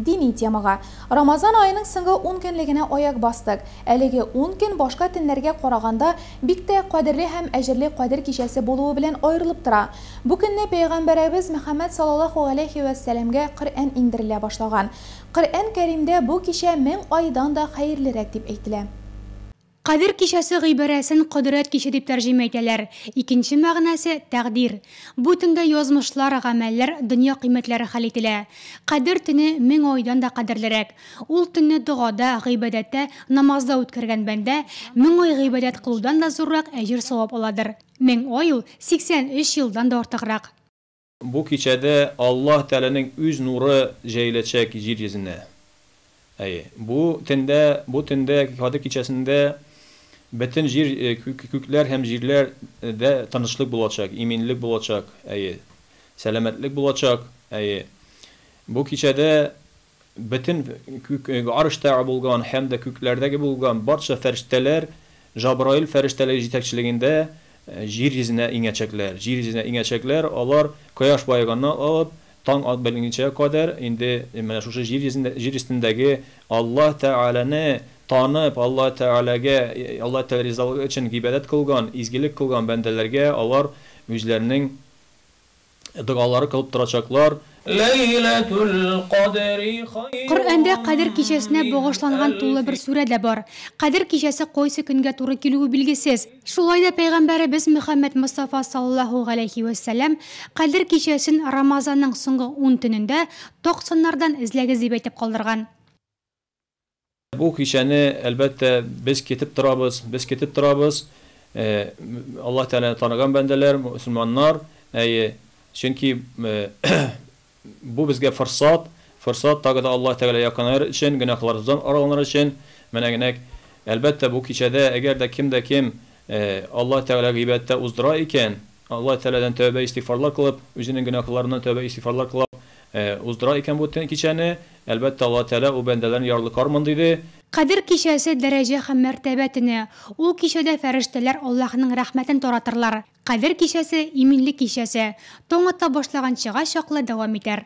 Дини темага. Рамазан аеның соңгы ун көнлегенә аяк бастык. Әлеге ун көн башка төннәргә караганда бик тә кадерле һәм әҗерле Кадер кичәсе булуы белән аерылып тора. Бу көнне пәйгамбәрәбез Мөхәммәд салаллаһу галәйһи вә сәламгә Коръән иңдерелә башлаган. Коръән Кәримдә бу кичә мең айдан да хәерлерәк дип әйтелә. Кадер кичәсе гыйбарәсен кодрәт киче дип тәрҗемә итәләр. Икенче мәгънәсе, тәкъдир. Бу төндә язмышлар, гамәлләр, дөнья кыйммәтләре хәл ителә. Кадер төне мең айдан да кадерлерәк. Ул төнне догада, гыйбадәттә, намазда үткәргән бәндә, мең ай гыйбадәт кылудан да зуррак әҗер-савап аладыр. Мең ай ул, 83 елдан да артыграк. Бу кичәдә Аллаһ Тәгаләнең үз нуры җәеләчәк җир йөзенә. Әйе, бу төндә, бу төндә, Кадер кичәсендә бөтен җир, күкләр һәм җирләр дә тынычлык булачак, иминлек булачак, әйе, сәламәтлек булачак, әйе. Бу кичәдә. Бөтен күк, гарштагы булган һәм дә күкләрдәге булган барча фәрештәләр Җабраил фәрештәлеге җитәкчелегендә җир йөзенә иңәчәкләр. Җир йөзенә иңәчәкләр, алар кояш баеганнан алып, таң ат беленчә кадәр инде менә шушы җир йөзендә, җир өстендәге Аллаһ Тәгаләне танып, Аллаһ Тәгаләгә, Аллаһ Тәгалә ризалыгы өчен гыйбадәт кылган, изгелек кылган бәндәләргә алар үзләренең догалары кылып торачаклар. Ләйләтул кадри хайрун Коръәндә Кадер кичәсенә мин багышланган тулы бер әлфи. сүрә дә бар. Кадер кичәсе кайсы көнгә туры килүе билгесез. Шулай да пәйгамбәребез Мөхәммәд Мостафа саллаллаһу галәйһи вә сәлләм, Кадер кичәсен Рамазанның соңгы ун төнендә ток-саннардан эзләгез дип әйтеп калдырган. Бу кичәне, әлбәттә, без кетеп торабыз, без кетеп торабыз, Аллаһ Тәгаләне таныган бәндәләр, мөселманнар, әйе, чөнки бу безгә форсат, форсат тагы да Аллаһ Тәгаләгә якынаер өчен, гөнаһларыбыздан араланыр өчен, менә генә, әлбәттә, бу кичәдә, әгәр дә кем дә кем Аллаһ Тәгаләгә гыйбадәттә уздыра икән, Аллаһ Тәгаләдән тәүбә-истигъфарлар кылып, үзенең гөнаһларыннан тәүбә-истигъфарлар кылып уздыра икән бу кичәне, Әлбәттә, Аллаһы Тәгалә ул бәндәләрен ярлы кармын, диде. Кадер кичәсе дәрәҗә һәм мәртәбә төне. Ул кичәдә фәрештәләр Аллаһының рәхмәтен таратырлар. Кадер кичәсе, иминлек кичәсе. Таң ата башлаганчыга чаклы дәвам итәр.